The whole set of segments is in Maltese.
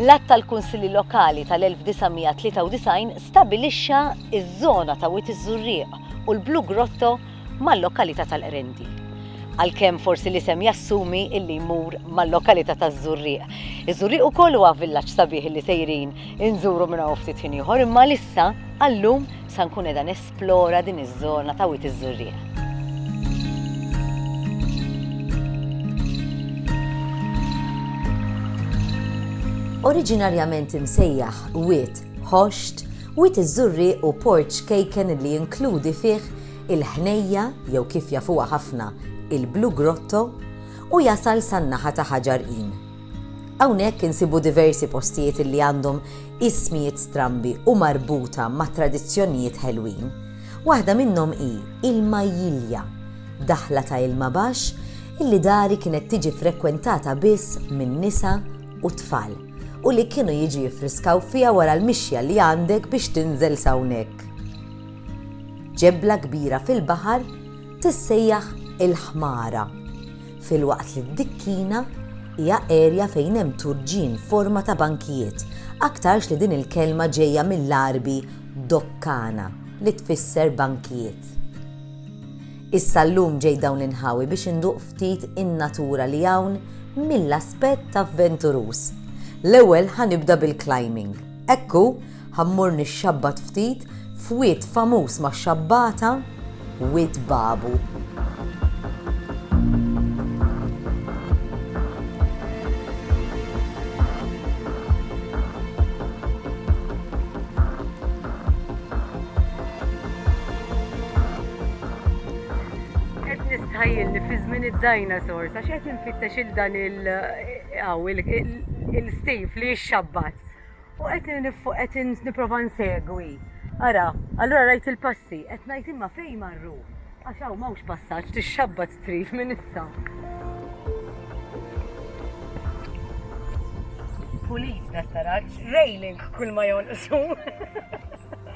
L-Att tal-Kunsilli Lokali tal-1993 stabbilixxa ż-żona ta' Wied iż-Żurrieq u l-Blue Grotto mal-lokalità tal-Qrendi. Għalkemm forsi l-isem jassumi illi jmur mal-lokalità taż-Żurrieq. Iż-Żurrieq ukoll huwa villaġġ sabiħ illi sejrin inżuru minn hawn ftit ħin ieħor imma lissa għallum sa nkun qiegħda nesplora din iż-żona ta' Wied iż-Żurrieq. Oriġinarjament imsejjaħ Wied Ħoxt, Wied iż-Żurrieq hu port ċkejken li jinkludi fih il-Ħnejja jew kif jafuha ħafna il-Blue Grotto u jasal san-naħa ta' Ħaġar Qim. Hawnhekk insibu diversi postijiet li għandhom ismijiet strambi u marbuta ma' tradizzjonijiet ħelwin. Waħda minnhom hi il-Majjilja, daħla ta' ilma baxx illi dari kienet tiġi frekwentata biss minn nisa u tfal. u li kienu jiġu jiffriskaw fiha wara l-mixja li għandek biex tinżel s'hawnhekk. Ġebla kbira fil-baħar tissejjaħ il-Ħmara, filwaqt li d-Dikkina hija erja fejn hemm turġien forma ta' bankijiet, aktarx li din il-kelma ġejja mill-Għarbi dokkana li tfisser bankijiet. Issa llum ġejt dawn l-inħawi biex induq ftit in-natura li hawn mill-aspett avventuruż. L-ewwel ħa nibda bil-climbing. Hekk hu, ħa mmur nixxabbat ftit f'wied famuż max-xabbata, Wied Babu. Qed nistħajjilni fi żmien id-dinosaurs għax qed infittex il dan il aw il-Steve li jixxabbat. U qed nifuq qed nipprova nsegwi. Ara, allura rajt il-passi, qed ngħid imma fejn marru? Għax hawn m'hawnx passaġġ tixxabbat strif minn issa. Pulit, dattaraġġ, railing kull ma jonqsu.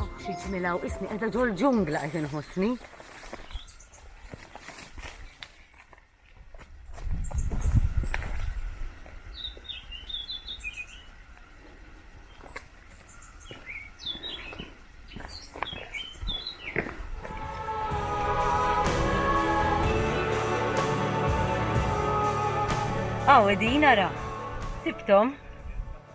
Oh, xi ġmilaw, isni qiegħda ġol-ġungla qed inħossni. Għaw, edin, ara. Sibtom.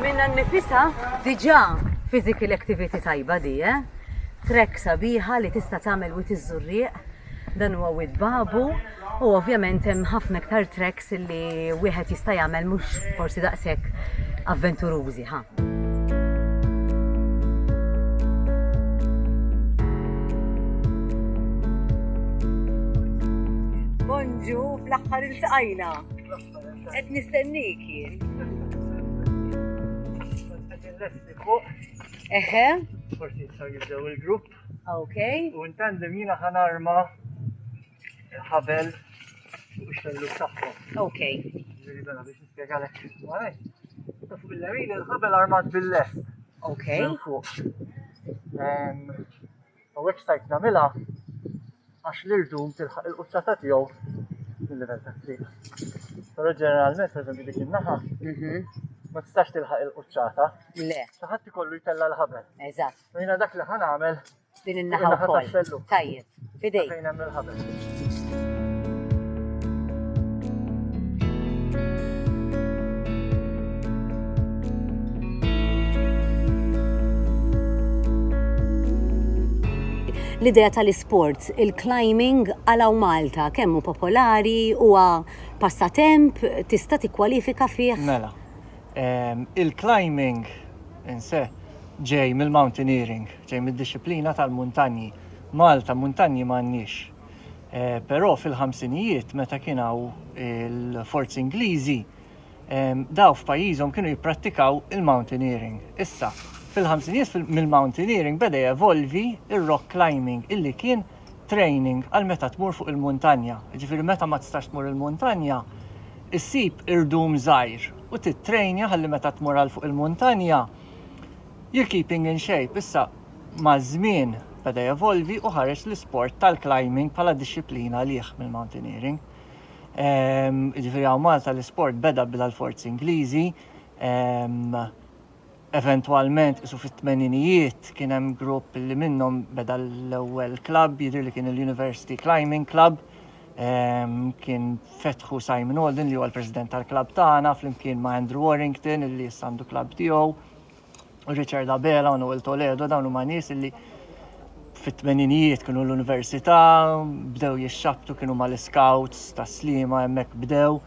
Minnha nnifisha diġà physical activity tajba di, eh? Trek sabiħa li tista' tagħmel wit iż-żurrieq, dan huwa Wied Babu, U ovvjament hemm ħafna iktar tracks li wieħed jista' jagħmel mhux forsi daqshekk avventurużi ħa. Bonġu, fl-axħar il-tqajna. Et nistennik jien. Eħe. Forsi jistaw jibdew il-grupp. Ok. U intandem jina ħanarma ħabel fuq ix-xellug tagħhom. Okay. Ġifieri bella biex nispjegalek x'iswalek. Ta' fuq il-lemin il-ħabel armat bil-lest. Okay. Minn fuq. Em, U hekk stajt nagħmilha għax l-irdum tilħaq il-quċċata tiegħu mill-livell ta' triq. Però ġeneralment, per eżempju, dik in-naħa Mhm. ma tistax tilħaq il-quċċata. Le, Xi ħadd ikollu jtella' l-ħabel. eżatt. U jiena dak li ħa nagħmel Din in-naħa wkoll. Tajjeb. Fidej. Fejn hemm il-ħabel. l-idea tal-isports, il-climbing għalaw Malta, kemmu popolari, huwa passatemp, tista' tikkwalifika fih? Mela, ehm, il-climbing inse Ġej mill-mountaineering, ġej mid-dixxiplina tal-muntanji. Malta muntanji m'għandniex. Però fil-ħamsinijiet meta kien hawn il-forzi Ingliżi, dawn f'pajjiżhom kienu jipprattikaw il-mountaineering. Issa, fil-ħamsinijiet mill-mountaineering beda jevolvi r-rock climbing illi kien training għal meta tmur fuq il-muntanja. Jiġifieri meta ma tistax tmur il-muntanja, issib irdum żgħir u tittrejnja ħalli meta tmur għal fuq il-muntanja, You're keeping in shape issa maż-żmien beda jevolvi u ħareġ l-isport tal-climbing bħala dixxiplina għalih mill-mountaineering. Ehm, ġifieri hawn Malta l-isport beda bila l-forzi Ingliżi, ehm, eventwalment isu fit-tmeninijiet kien hemm grupp li minnhom beda l-ewwel klabb jidhir li kien il-University Climbing Club Kien fetħu Simon Holden li huwa l-President tal-klabb tagħna flimkien ma' Andrew Warrington li issa għandu klabb tiegħu, Richard Abela u Noel Toledo dawn huma nies li fit-tmeninijiet kienu l-università, bdew jixxabtu kienu ma l-scouts ta' slima hemmhekk bdew.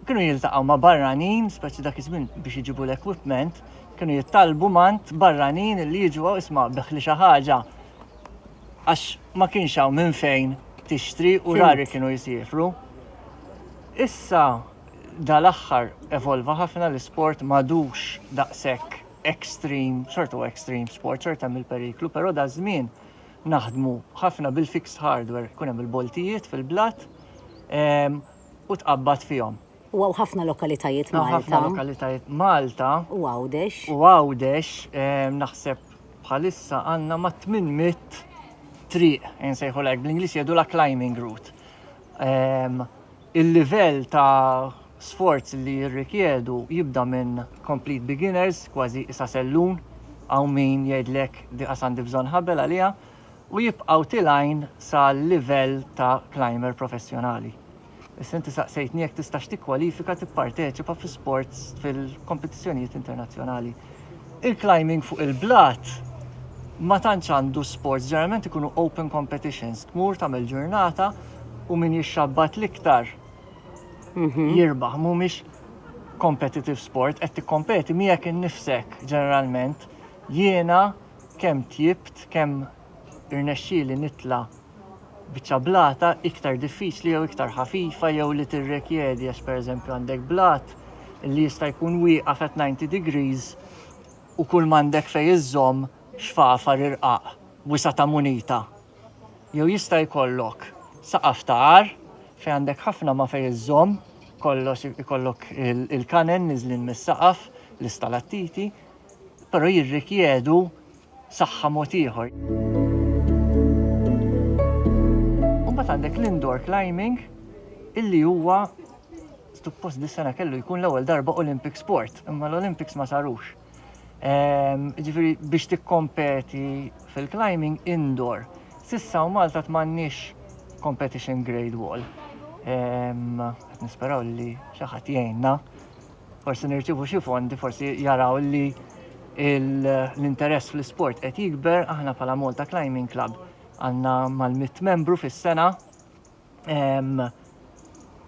Kienu jiltaqgħu ma' barranin, speċi dak iż-żmien biex iġibu l-equipment, kienu jittalbu mant barranin li jiġu isma' beħli xi ħaġa għax ma kienx hawn minn fejn tixtri u rari kienu jisifru. Issa dal-aħħar evolva ħafna l-isport madux daqshekk extreme, xorta huwa extreme sport, xorta hemm il-periklu, però da żmien naħdmu ħafna bil-fixed hardware, kun hemm il-boltijiet fil-blat ehm, u tqabbad fihom. U hawn ħafna lokalitajiet Malta. Hawn ħafna lokalitajiet Malta. U Għawdex. U Għawdex, naħseb bħalissa għandna ma' 800 triq, insejħu lek, bl-Inglis jedu la climbing route. Ehm, il-livell ta' sforz li jirrikjedu jibda minn complete beginners, kważi isa sellun, għaw min jgħidlek diqas għandi bżon ħabel għalija, u jibqaw tilajn sa' livell ta' climber professjonali. Issa inti saqsejtni jekk tistax tikkwalifika tipparteċipa fi sports fil-kompetizzjonijiet internazzjonali. Il-climbing fuq il-blat ma tantx għandu sports, ġeneralment ikunu open competitions, tmur tagħmel ġurnata u min jixxabbat l-iktar mhm. jirbaħ, mhumiex competitive sport, qed tikkompeti miegħek innifsek ġeneralment jiena kemm tjibt, kemm irnexxieli nitla' biċċa blata iktar diffiċli jew iktar ħafifa jew li tirrekjedi għax pereżempju għandek blat li jista' jkun wieqaf at 90 degrees u kull m'għandek fejn iżżomm xfafar irqaq wisa' ta' munita. Jew jista' jkollok saqaf ta' għar fejn għandek ħafna ma' fejn iżżomm kollox ikollok il-kanen niżlin mis-saqaf, l-istalattiti, però jirrikjedu saħħa mod ieħor. Imbagħad għandek l-indoor climbing illi huwa suppost dis-sena kellu jkun l-ewwel darba Olympic sport, imma l-Olympics ma sarux. Ehm, ġifieri biex tikkompeti fil-climbing indoor. Sissa u Malta tmannix competition grade wall. Ehm, nisperaw li xi ħadd jgħinna forsi nirċivu xi fondi, forsi jaraw li l-interess fl-sport qed jikber, aħna bħala Malta Climbing Club għandna mal-mit membru fis-sena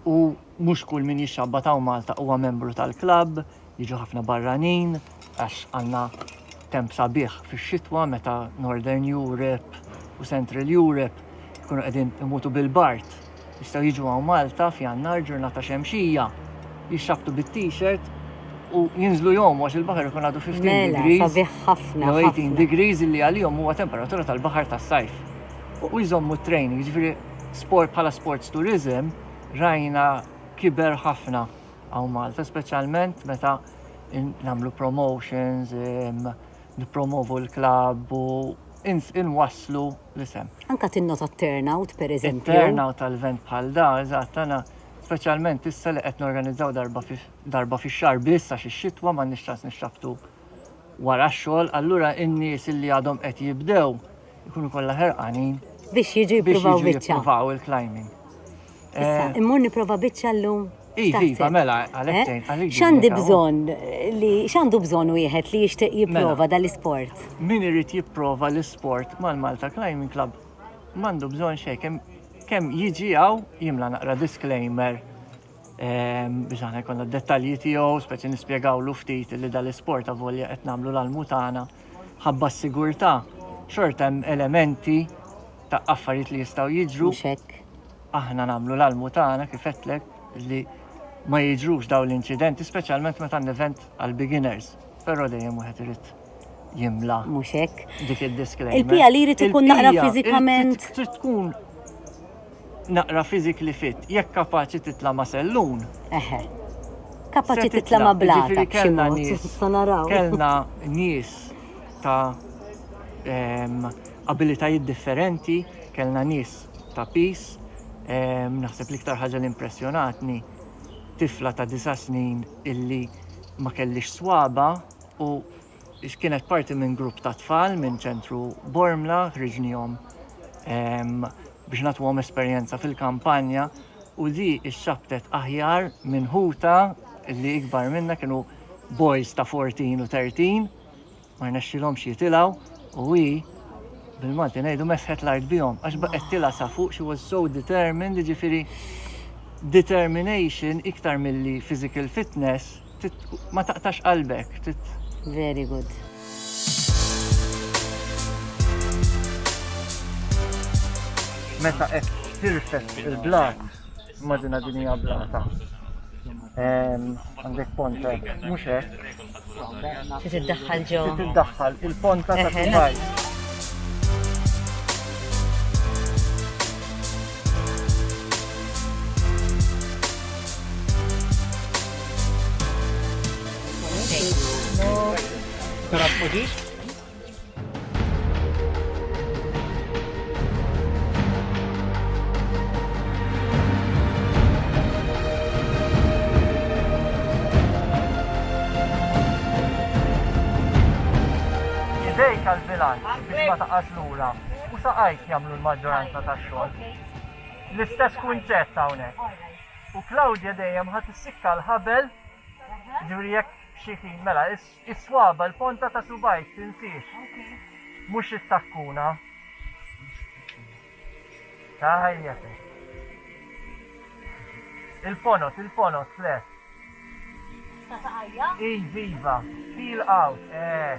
u mhux kull min jixxabba ta' Malta huwa membru tal-klabb, jiġu ħafna barranin għax għandna temp sabiħ fix-xitwa meta Northern Europe u Central Europe jkunu qegħdin imutu bil-bart Jistgħu jiġu hawn Malta f'Jannar ġurnata xemxija, jixxabbtu bit-t-shirt u jinżlu jgħumu għax il-baħar ikun għadu 15 degrees. Mela, sabiħ ħafna. Jew 18 degrees illi għalihom huwa temperatura tal-baħar tas-sajf. U jżommu t-training, jiġifieri sport bħala sports tourism rajna kiber ħafna hawn Malta, speċjalment meta nagħmlu promotions, nippromovu l-klabb u inwasslu l-isem. Anke tinnota t-turnout, pereżempju. It-turnout għal event bħal da, eżatt, għana speċjalment issa li qed norganizzaw darba fix-xahar biss għax ix-xitwa m'għandniex ċans nixxabbtu wara x-xogħol, allura n-nies li għadhom qed jibdew ikunu kollha ħerqanin biex jiġu jippruvaw il-climbing. Issa, immur niprofa biċċa llum. Iva, iva, mela, għalek eh? tgħid għalik. X'għandi bżonn li x'għandu bżonn wieħed li jixtieq mela. jipprova dal-isport? Min irid jipprova l-isport mal-Malta Climbing Club m'għandu bżonn xejn kemm jiġi għaw jimla naqra disclaimer ehm, biex aħna jkollna dettalji tiegħu, speċi nispjegawlu ftit li dal-isport avolja qed nagħmlu l-almu tagħna ħabba s-sigurtà xorta hemm elementi ta' affarijiet li jistgħu jiġru. Mhux hekk. Aħna nagħmlu l-almu tagħna kif għedtlek li ma jiġrux dawn l-inċidenti, speċjalment meta n-event għal beginners, però dejjem wieħed irid jimla. Mhux hekk. Dik id-disclaimer. Il-pija li jrid ikun naqra fiżikament. Trid tkun naqra fiżikli fit, jekk kapaċi titla' ma' sellun. Eħe. Kapaċi titla' ma' blata. Ġifieri kellna nies. Kellna nies ta' abilitajiet differenti, kellna nies ta' piż, naħseb l-iktar ħaġa li impressjonatni tifla ta' disa' snin illi ma kellhiex swaba' u kienet parti minn grupp ta' tfal minn Ċentru Bormla, ħriġnihom biex nagħtuhom esperjenza fil-kampanja u di xxabbtet aħjar minn ħutha li ikbar minnha kienu boys ta' fourteen u thirteen. ma rnexxilhomx jitilgħu u hi bil-Malti ngħidu mesħet l-art bihom għax baqgħet tilgħa sa fuq she was so determined jiġifieri determination iktar milli physical fitness ma taqtax qalbek. Very good. Meta qed tirfed il-blat Immaġina din hija blata. Għandek ponta, mhux hekk. Trid iddaħħal ġo. Trid iddaħħal il-ponta ta' kubaj. Tara Idejk għal-bilanċ biex ma taqax lura u saqajk jagħmlu l-maġġoranza tax-xogħol. L-istess kunċett hawnhekk. U Claudia dejjem ħadd issikka l-ħabel ġuri jekk xi ħin mela Is-swaba', l-ponta ta' subgħajk, tinsiex. Mhux is-sakkuna. Tajjeb. Il-ponot, il-ponot, fle. Ta' saqajja? Iv, iva. Peel out, eh.